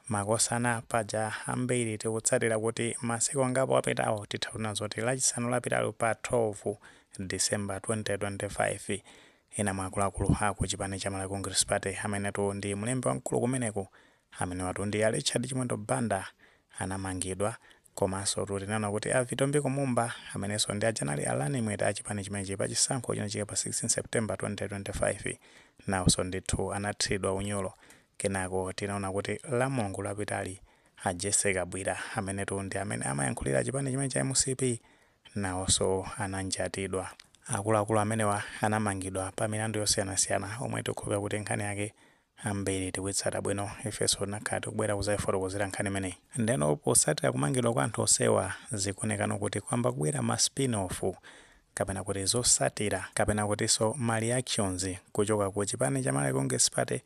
Makosana paja ambiri tikutsatira kuti masiku angapo apitawo titha kunena zoti lachisanu lapitalo pa 12 December 2025 ena mwa akuluakulu aku chipani cha Malawi Congress Party amenetu ndi mlembi wamkulu kumeneko amenewatu ndi a Richard Chimwendo Banda anamangidwa komansotu tinaona kuti a Vitumbiko Mumba amenenso ndi aja anali a running mate a chipani chimenechi pa chisankho chinachitika pa 16 September 2025 nawonso ndithu anathilidwa unyolo Kenako tinaona kuti la Mulungu lapitali a Jessie Kabwira amenetu ndi amene amayankhulira chipani chimene cha mcp nawonso ananjatidwa. Akuluakulu amenewa anamangidwa pa milandu yosiyanasiyana omwe tikukhulupirira kuti nkhani yake ambiri tikuitsata bwino ifeso tinakhala tikubwera kuzaifotokozera nkhani imeneyi. Ndeno potsatira kumangidwa kwa anthu onsewa zikuonekano kuti kwamba kubwera ma spin off kapena kuti zosatira kapena kutinso ma reactions kuchoka ku chipani cha Malawi Congress Party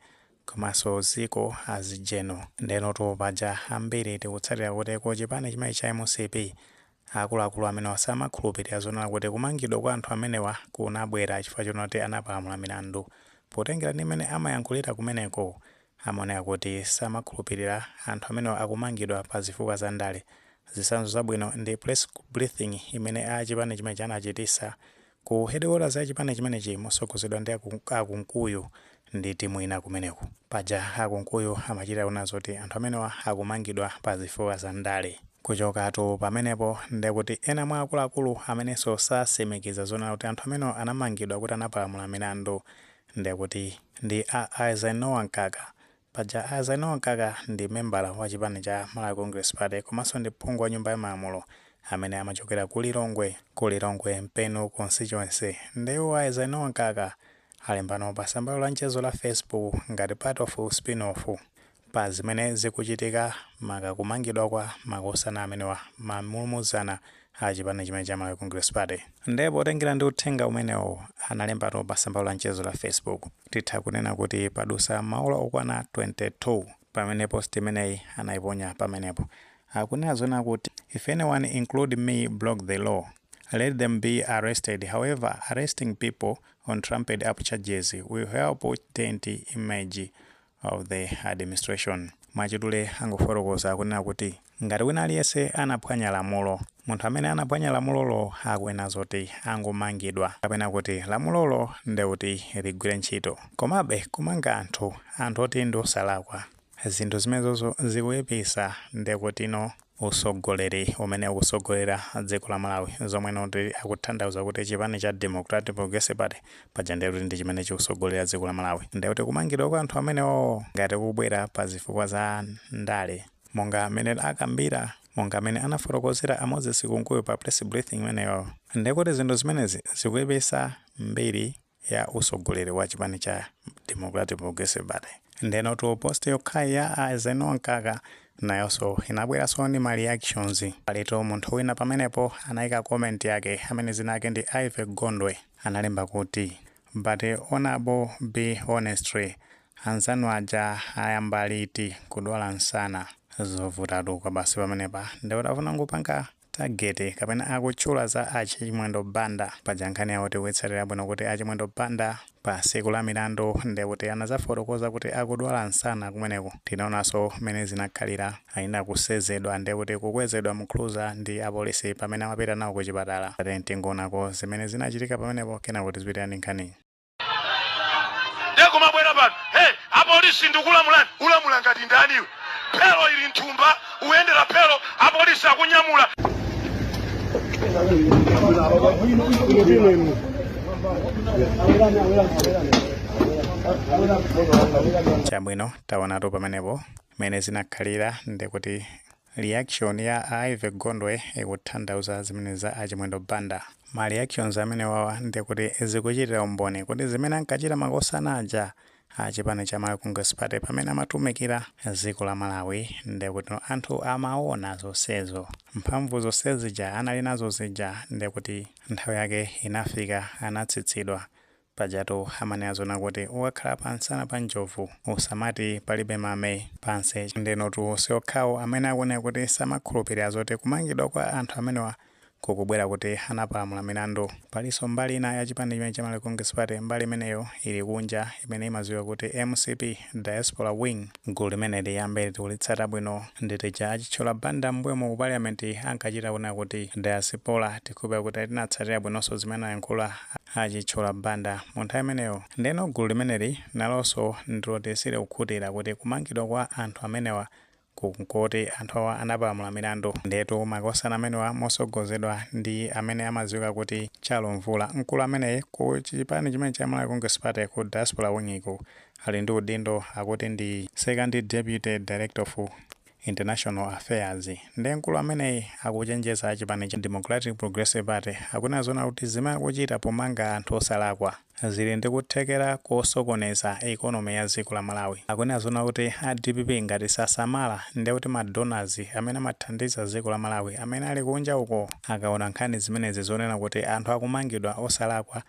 komanso ziko as general ndenotu paja ambiri tikutsatira kuti ku chipani chimene cha mcp akuluakulu amenewa samakhulupilira zonena kuti kumangidwa kwa anthu amenewa kunabwera chifukwa chonena kuti anapalamula milandu potengera ndi mmene amayankhulira kumeneko amaoneka kuti samakhulupilira anthu amenewa akumangidwa pa zifukwa za ndale. Zisanzo zabwino ndi press briefing imene a chipani chimenechi anachitisa ku headquarters ya chipani chimenechi mosogozedwa ndi a Kunkuyu ndi timu ina kumeneko. Paja a Kunkuyu amachita kunena zoti anthu amenewa akumangidwa pa zifukwa za ndale. Kuchokatu pamenepo nde kuti ena mwa akuluakulu amenenso sasimikiza zonena kuti anthu amenewa anamangidwa kuti anapalamula milandu ndekuti ndi a Eisenhower Mkaka. Paja a Eisenhower Mkaka ndi membala wa chipani cha Malawi Congress Party komanso ndi phungu wa nyumba ya malamulo amene amachokera ku Lilongwe, ku Lilongwe Mpenu Constituency. Nde iwo a Eisenhower Mkaka alembano pa sambalo la mchezo la Facebook ngati part of spin-off. pa zimene zikuchitika maka kumangidwa kwa makosana amenewa ma mulumuzana a chipani chimene cha Malawi Congress Party. Nde potengera ndi uthenga umene iwo analembatu pa sambalo la mchezo la Facebook, titha kunena kuti padusa maola okwana 22 pamene post imeneyi anaiponya pamenepo. Akunena zonena kuti, If anyone include me broke the law, let them be arrested, however arresting people on trumped up charges will help taint image of the administration. Mwachidule angofotokoza kunena kuti ngati wina aliyense anaphwanya lamulo, munthu amene anaphwanya lamulolo akunena zoti angomangidwa kapena kuti lamulolo nde kuti ligwire ntchito. Komabe kumanga anthu, anthu oti ndiosalakwa zinthu zimenezozo zikuipisa ndekutino. usogoleri umene ukusogolera dziko la Malawi zomwe noti akuthandauza kuti chipani cha Democratic Progressive Party paja ndiye kuti ndi chimene chikusogolera dziko la Malawi ndiye kuti kumangidwa kwa anthu amenewowo ngati kubwera pa zifukwa za ndale monga amene akambira monga amene anafotokozera a Moses Kunkuyu pa press briefing imeneyoyo ndiye kuti zinthu zimenezi zikuipisa mbiri ya usogoleri wa chipani cha Democratic Progressive Party. Ndenotu post yokhayi ya a Eisenhower Mkaka nayoso inabweraso ndi ma reactions. Palitu munthu wina pamenepo anaika comment yake amene zina ake ndi Ivy Gondwe analemba kuti but honorable honestly anzanu aja ayamba liti kudwala nsana? Zovutatu kwabasi pamenepa. Nde utafuna kupanga tageti kapena akutchula za a chimwendo banda paja nkhani yawo tikuitsatira bwino kuti a chimwendo banda pa siku la milandu ndekuti anazafotokoza kuti akudwala nsana kumeneko tinaonaso mene zinakhalira anakusezedwa ndekuti kukwezedwa mu cruza ndi apolisi pamene amapita nawo ku chipatala tatiyeni tingoonako zimene zinachitika pamenepo kenako tizipitilira ndi nkhaniyi ndekumabwera pano hey, apolisi ndikulamulani ulamula ngati ndani iwe phelo ili nthumba uyendera phelo apolisi akunyamula chabwino taonatu pamenepo mmene zinakhalira ndikuti Reaction ya a Ivy Gondwe ikuthandauza zimenezi za a Chimwendo Banda. Ma reactions amenewawa ndekuti zikuchitira umboni kuti zimene ankachita makosana aja a chipani cha Malawi Congress Party pamene amatumikira dziko la Malawi ndekuti anthu amawona zonsezo. Mphamvu zonse zija anali nazo zija ndekuti nthawi yake inafika anatsitsidwa. Pajatu amanena zoona kuti ukakhala pa nsana pa njovu usamati palibe mame pansi. Ndenotu siokhawo amene akuoneka kuti samakhulupilira zoti kumangidwa kwa anthu amenewa kukubwera kuti anapalamula milandu. Palinso mbali ina ya chipani chimene cha Malawi Congress Party, mbali imeneyo ili kunja, imene imadziwika kuti mcp. Diaspora Wing, Gulu limeneli ambiri tikulitsata bwino ndi tija a Chithyola Banda mmbuyomo ku Parliament ankachita kunena kuti Diaspora, tikhulupira kuti tinatsatira bwinonso zimene anayankhula a Chithyola Banda mu nthawi imeneyo. Ndeno gulu limeneli nalonso ndiloti silikukhutira kuti kumangidwa kwa anthu amenewa ku nkuti anthu awa anapalamula milandu. Ndiyetu makosana amenewa mosogozedwa ndi amene amadziwika kuti Chalo Mvula, mkulu ameneyi ku chipani chimene cha Malawi Congress Party ku Diaspora Wing ku ali ndi udindo akuti ndi Second Deputy Director of International Affairs. Nde mkulu ameneyi akuchenjeza achipani cha Democratic Progressive Party akunena zoona kuti zimene akuchita pomanga anthu osalakwa. zili ndi kuthekera kosokoneza economy ya dziko la Malawi. Akunena zoona kuti a dpp ngati sasamala ndiye kuti ma donors amene amathandiza dziko la Malawi amene ali kunja uko akaona nkhani zimenezi zonena kuti anthu akumangidwa osalakwa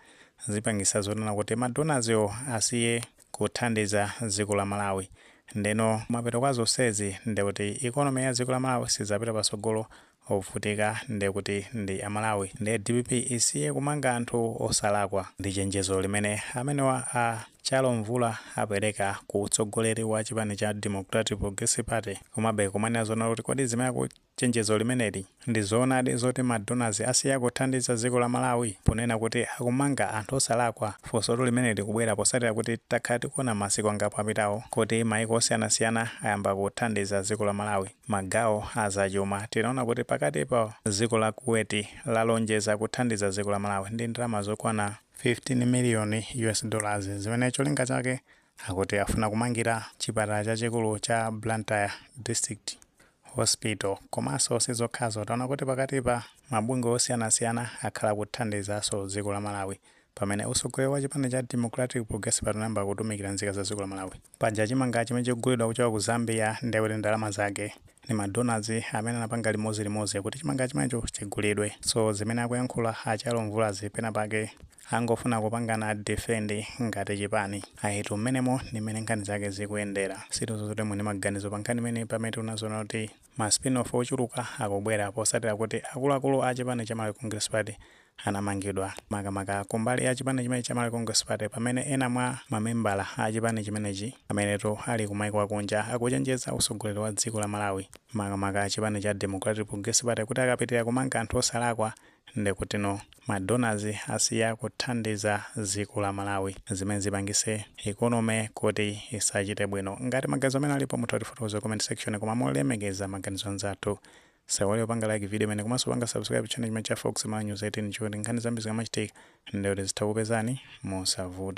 zipangitsa zonena kuti ma donors wo asiye kuthandiza dziko la Malawi ndeno kumapeto kwa zonsezi ndiye kuti economy ya dziko la Malawi sidzapita patsogolo ovutika nde kuti ndi amalawi nde dpp isiye kumanga anthu osalakwa ndi chenjezo limene amenewa a chalo mvula apeleka ku utsogoleri wa chipani cha democratic progressive party komabe kumaona zoona kuti kodi zimene aku chenjezo limeneli ndi zoonadi zoti ma donors asiya kuthandiza dziko la malawi ponena kuti akumanga anthu osalakwa funsotu limeneli likubwera posatira kuti takhala tikuona masiku angapo apitawo kuti maiko osiyanasiyana ayamba kuthandiza dziko la malawi Magawo a zachuma, tinaona kuti pakatipa dziko la Kuwait lalonjeza kuthandiza dziko la Malawi ndi ndalama zokwana 15 miliyoni US dollars zimene cholinga chake akuti afuna kumangira chipatala chachikulu cha Blantyre District Hospital. Komanso sizokhazo, taona kuti pakatipa mabungwe osiyanasiyana akhala akuthandizaso dziko la Malawi pamene utsogoleri wa chipani cha Democratic Progressive Party unayamba kutumikira nzika za dziko la Malawi. Paja chimanga chimene chikugulidwa kuchoka ku Zambia nde kuti ndalama zake ndi ma donors amene anapanga limodzi limodzi kuti chimanga chimenecho chigulidwe. So zimene akuyankhula a Chalo Mvulazi pena pake angofuna kupangana defend ngati chipani. Ayitu mmenemo ndi mmene nkhani zake zikuyendera. Sitidziwa zoti muli ndi maganizo pa nkhani imeneyi pamene tikuona zoona kuti Ma spin-off ochuluka akubwera posatira kuti akuluakulu a chipani cha Malawi Congress Party anamangidwa, makamaka kumbali ya chipani chimenechi cha Malawi Congress Party pamene ena mwa ma membala a chipani chimenechi amenetu ali ku maiko akunja akuchenjeza utsogoleri wa dziko la Malawi makamaka chipani cha Democratic Progressive Party kuti akapitilira kumanga anthu osalakwa nde kuti no ma donors asiya kuthandiza ziko la malawi zimene zipangise economy kuti isachite bwino ngati maganizo amene alipo mutha kutifotokoza ku comment section koma molemekeza maganizo anzathu musaiwale kupanga like video imene komanso kupanga subscribe channel chimenechi cha fox malawi news 18 cholinga choti nkhani zambiri zikamachitika ndekuti zitha kupezani mosavuta